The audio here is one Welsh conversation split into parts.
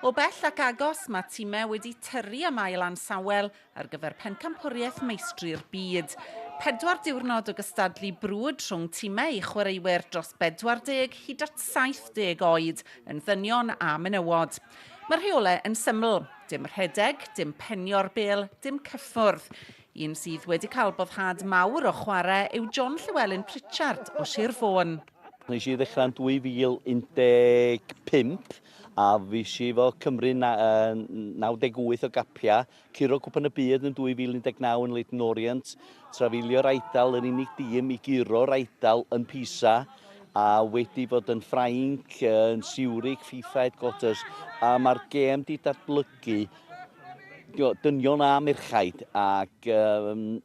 O bell ac agos, mae timau wedi tyrru am ail ansawel ar gyfer Pencampwriaeth Meistri'r Byd. Pedwar diwrnod o gystadlu brwd rhwng timau i chwaraewyr dros 40 hyd at 70 oed, yn ddynion a menywod. Mae'r rheolau yn syml, dim rhedeg, dim penio'r bêl, dim cyffwrdd. Un sydd wedi cael boddhad mawr o chwarae yw John Llewelyn Pritchard o Sir Fôn. Nes i ddechrau yn 2015 a fis i fo Cymru 98 o gapia, curo cwpan y byd yn 2019 yn Leighton Orient, trafeilio'r Eidal yr unig dîm i guro'r Eidal yn Pisa a wedi bod yn Ffrainc, yn Siwrig, FIFA Headquarters a mae'r gêm di datblygu dynion a merchaid ac um,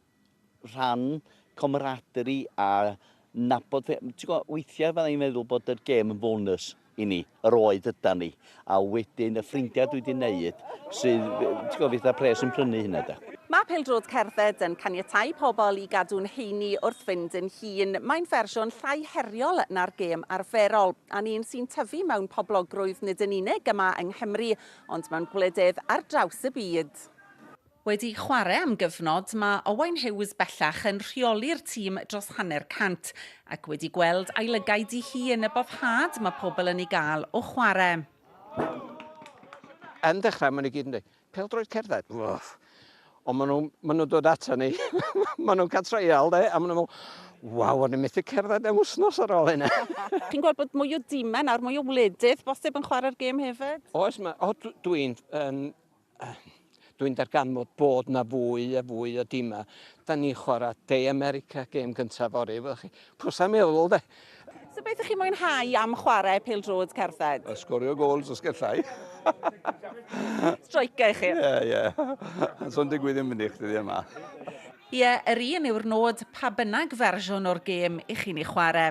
rhan comeradri a nabod fe- ti'n gwybod, weithiau fydda i'n meddwl bod yr gêm yn bonus i ni, yr oed yda ni, a wedyn y ffrindiau dwi wedi wneud sydd, ti'n gwybod, fydd y pres yn prynu hynna da. Mae pêl-droed cerdded yn caniatáu pobl i gadw'n heini wrth fynd yn hŷn. Mae'n fersiwn llai heriol na'r gêm arferol, a'n un sy'n tyfu mewn poblogrwydd nid yn unig yma yng Nghymru, ond mewn gwledydd ar draws y byd. Wedi chwarae am gyfnod, mae Owain Hughes bellach yn rheoli'r tîm dros hanner cant, ac wedi gweld ailygau di hi yn y boddhad mae pobl yn ei gael o chwarae. Yn dechrau, maen nhw gyd yn dweud, pêl-droed cerdded, wff. Ond maen nhw, maen nhw'n dod ata ni, maen nhw'n cael treial, de, a maen nhw'n meddwl, waw, o'n i'n methu cerdded am wythnos ar ôl hynna. Chi'n gweld bod mwy o dimau nawr, mwy o wledydd bosib yn chwarae'r gêm hefyd? Oes, mae, o, dwi'n, um, Dwi'n darganfod bod 'na fwy a fwy o dimau. Da ni'n chwarae De America, gêm gyntaf fory, wyddoch chi. Pwysau meddwl, de. So beth ych chi'n mwynhau am chwarae pêl-droed cerdded? Yy sgorio gols os gallai. Striker ych chi? Ie, ie. Ond 'sa'n digwydd ddim fyny chdi ddydd yma. Ie, yr un yw'r nod, pa bynnag fersiwn o'r gêm 'ych chi'n ei chwarae.